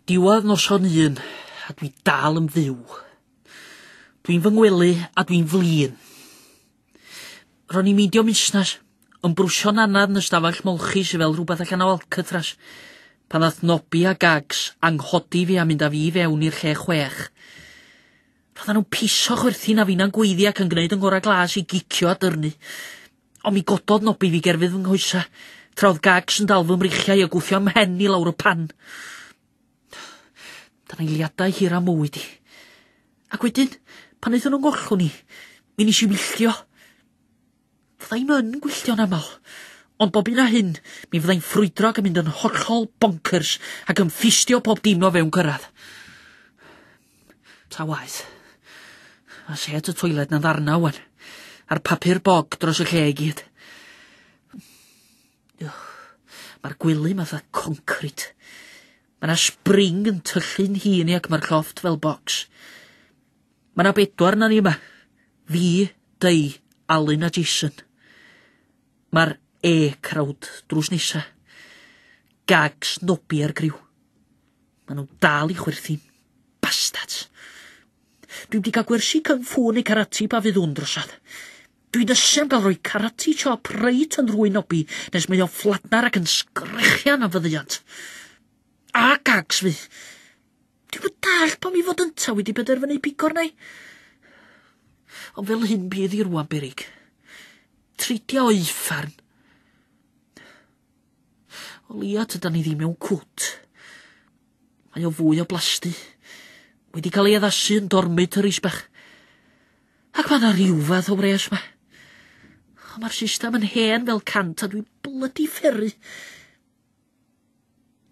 Diwedd noson un, a dwi dal yn fyw. Dwi'n fy ngwely a dwi'n flin. Ro'n i'n meindio musnes, yn brwsio'n anad yn ystafell molchi sydd fel rhywbeth allan o Alcatraz, pan ddath Nobi a Gags anghodi fi a mynd â fi fewn i'r lle chwech. Roedden nhw'n piso chwerthin a finna'n gweiddi ac yn gwneud yng ngorau glas i gicio a dyrnu. Ond mi gododd nobi fi gerfydd fy nghoesa, tra oedd gags yn dal fy mreichiau a gwthio mhen i lawr y pan. Dyna eiliadau hir a mywyd i. Ac wedyn, pan aethon nhw'n gollwng ni, mi nes i wylltio. Fydda i'm yn gwylltio'n aml, ond bob un a hyn, mi fydda i'n ffrwydro ac yn mynd yn hollol bonkers ac yn ffistio pob dim o fewn cyrraedd. Ta waeth. Mae set y toilet na ddarna wan. A'r papur bog dros y lle i gyd. Mae'r gwely matha concrit. Mae na spring yn tyllu'n hun i ac mae'r lloft fel bocs. Mae na bedwar na ni yma. Fi, Dei, Alun a Jason. Mae'r e crowd drws nesa. Gags, nobi a'r griw. Maen nhw dal i chwerthin. Bastards. Dwi'n di cael gwersi kung fu neu karate pa fydd hwn drosad. Dwi'n ysu am gael rhoi karate chop reit yn rhwy'n obi nes mae o'n ffladnar ac yn sgrechian am fyddiant. A gags fi. Dwi'n yn dall pam i fod ynta wedi penderfynu pigo arna i. Ond fel hyn bydd i rwan berig. Treidio o'i ffarn. O leia tydan ni ddim mewn cwt. Mae o fwy o blasty. Wedi cael ei addasu yn dormitories bach. Ac mae yna rhyw fath o wres ma. O, mae'r system yn hen fel cant a dwi'n blydi fferru.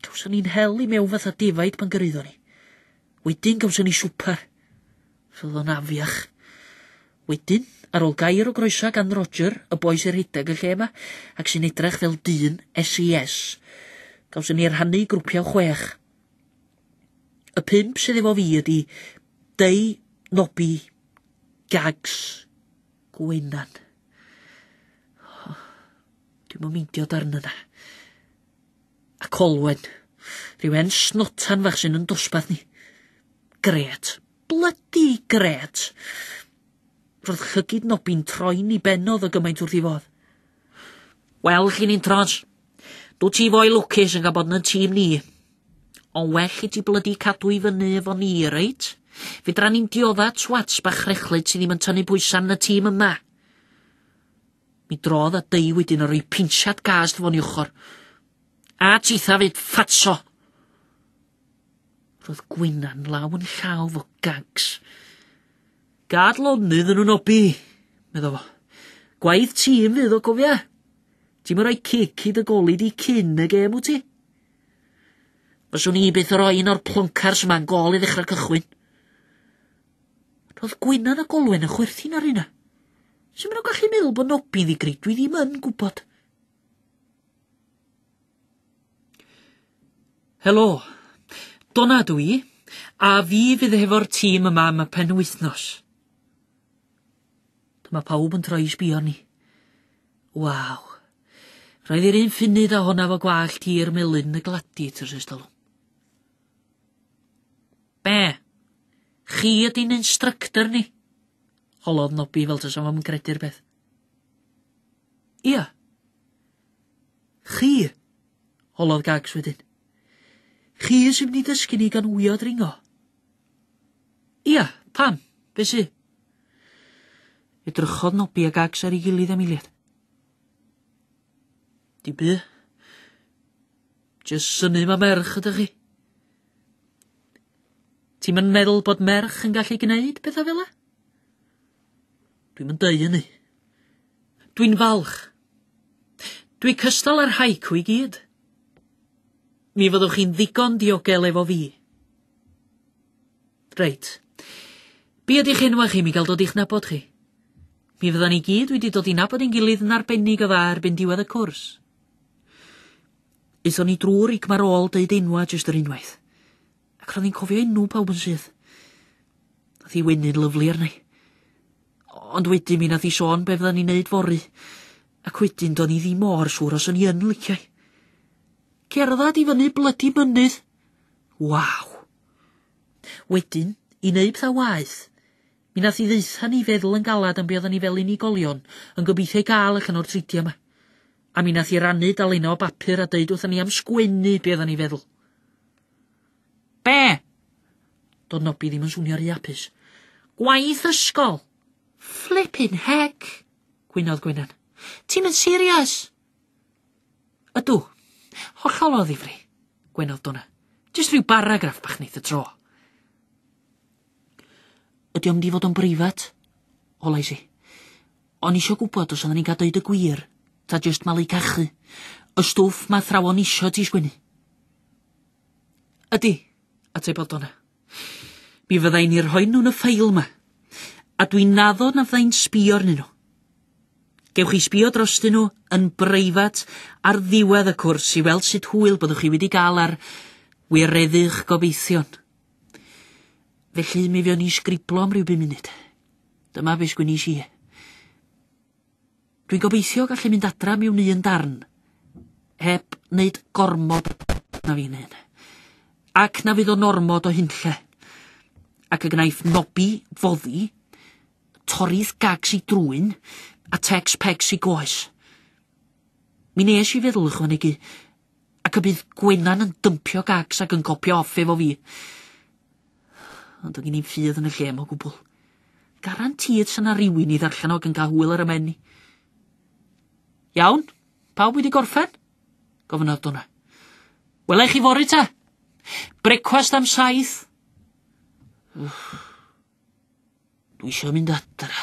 Gawson ni'n hel i mewn fatha defaid pan gyrraeddon ni. Wedyn gawson ni swper. Fyddwn afiach. Wedyn, ar ôl gair o groeso gan Roger, y boi sy'n rhedeg y lle yma, ac sy'n edrych fel dyn SES, gawson ni rhannu i grwpiau o chwech. Y pump sydd efo fi ydy Dei, Nobi, Gags, Gwenan. Dwi'n mynd meindio darn yna. A Colwen. Rhyw hen snotan fach sy'n yn dosbarth ni. Gret. Blydi gret. Roedd llygid Nobby'n troi'n i bennodd o gymaint wrth i fodd. Wel, chi'n un tros. Dw ti fo'i lwcus yn cael bod yn y tîm ni. Ond well i ti blydi cadw i fyny efo ni, reit? Fydra ni'n diodda twats bach rechlyd sydd ddim yn tynnu pwysau yn y tîm yma. Mi drodd a dei wedyn ar ei pinsiad gas dy fo'n ei ochr. A titha fyd ffatso! Roedd Gwyna'n law yn llaw fo gags. Gad lonydd yn nhw'n obi, medda fo. Gwaith tîm fydd o cofia. Ti'n mynd rhoi cic i dy goli di cyn y gêm wyt ti? Fyswn i byth yn rhoi un o'r ploncars yma'n gol i ddechrau cychwyn. Roedd Gwynan a Golwen yn chwerthin ar hynna. Sut maen nhw'n gallu meddwl bod Nobi'n ddigryd? Dwi ddim yn gwybod. Helo, Donna dw i, a fi fydd hefo'r tîm yma am y penwythnos. Dyma pawb yn troi i sbio ni. Waw. Roedd i'r un ffunud a honna fo gwallt i'r melyn y gladiators ers talwm. Be? Chi ydy'n instructor ni? Holodd Nobi fel tasa fo'm yn credu'r peth. Ia. Chi? Holodd Gags wedyn. Chi sy'n mynd i dysgu ni gan wyo dringo? Ia, pam? Be sy? Edrychodd Nobi a Gags ar ei gilydd am eiliad. Dim byd. Jyst synnu ma' merch ydych chi. Ti'm yn meddwl bod merch yn gallu gneud pethau fel 'a? Dwi'm yn deud hynny. Dwi'n falch. Dwi cystal â'r haiku i gyd. Mi fyddwch chi'n ddigon diogel efo fi. Reit. Be' ydych enwa chi mi gael dod i'ch nabod chi? Mi fyddan ni gyd wedi dod i nabod ein gilydd yn arbennig o dda erbyn diwedd y cwrs. Aethon ni drwy'r ig ar ôl deud enwa jyst yr unwaith. Ac ro'n i'n cofio enw pawb yn syth. Nath i weny'n lyflu arna i. Ond wedyn mi nath i sôn be fyddan ni'n neud fory. Ac wedyn do'n i ddim mor siŵr os o'n i yn liciau. Cerdded i fyny blydi mynydd. Waw! Wedyn, i wneud pethau waeth, Mi nath hi ddaetha ni feddwl yn galad am be odda ni fel unigolion yn gobeithio i gael allan o'r tridia ma. A mi nath hi rannu dalenna o bapur a deud wrtha ni am sgwennu be odda ni feddwl. Be? Do'dd Nobi ddim yn swnio ry apus. Gwaith ysgol! Flippin heck! gwynodd Gwenan. Ti'm yn serious? Ydw. Hollol o ddifri, gwenodd Donna. Jyst rhyw baragraff bach neith y tro. Ydy o'm di fod o'n breifat? Holais i. O'n isio gwybod os oedden ni'n cael deud y gwir, ta jyst malu cachu. Y stwff ma thrawon isio ti sgwennu. Ydy, atebodd Donna. Mi fydda i'n i'r rhoi nhw'n y ffail yma. A dwi'n naddo na fydda i'n sbio arnyn nhw. Gewch chi sbio drostyn nhw yn breifat ar ddiwedd y cwrs i weld sut hwyl byddwch chi wedi gael ar wireddu'ch gobeithion. Felly mi fuon ni'n sgriblo am ryw bum munud. Dyma be sgwinish i. Dwi'n gobeithio gallu mynd adra miwn un darn, heb wneud gormod na fi'n hyn. Ac na fydd o'n ormod o hunlle. Ac y gnaeth nobi foddi, torrith gags i drwyn, a tex pegs i goes. Mi nes i feddwl ychwanegu Ac y bydd Gwenan yn dympio gags ac yn copio off efo fi. Ond doedd gen i'n ffydd yn y lle mo gwbl. Garantîd sy'n na rywun i ddarllen o ac yn cael hwyl ar y men i. Iawn, pawb wedi gorffen? Gofynnodd Donna. Wela i chi fori ta? Brecwast am saith? Dwi eisiau mynd adra.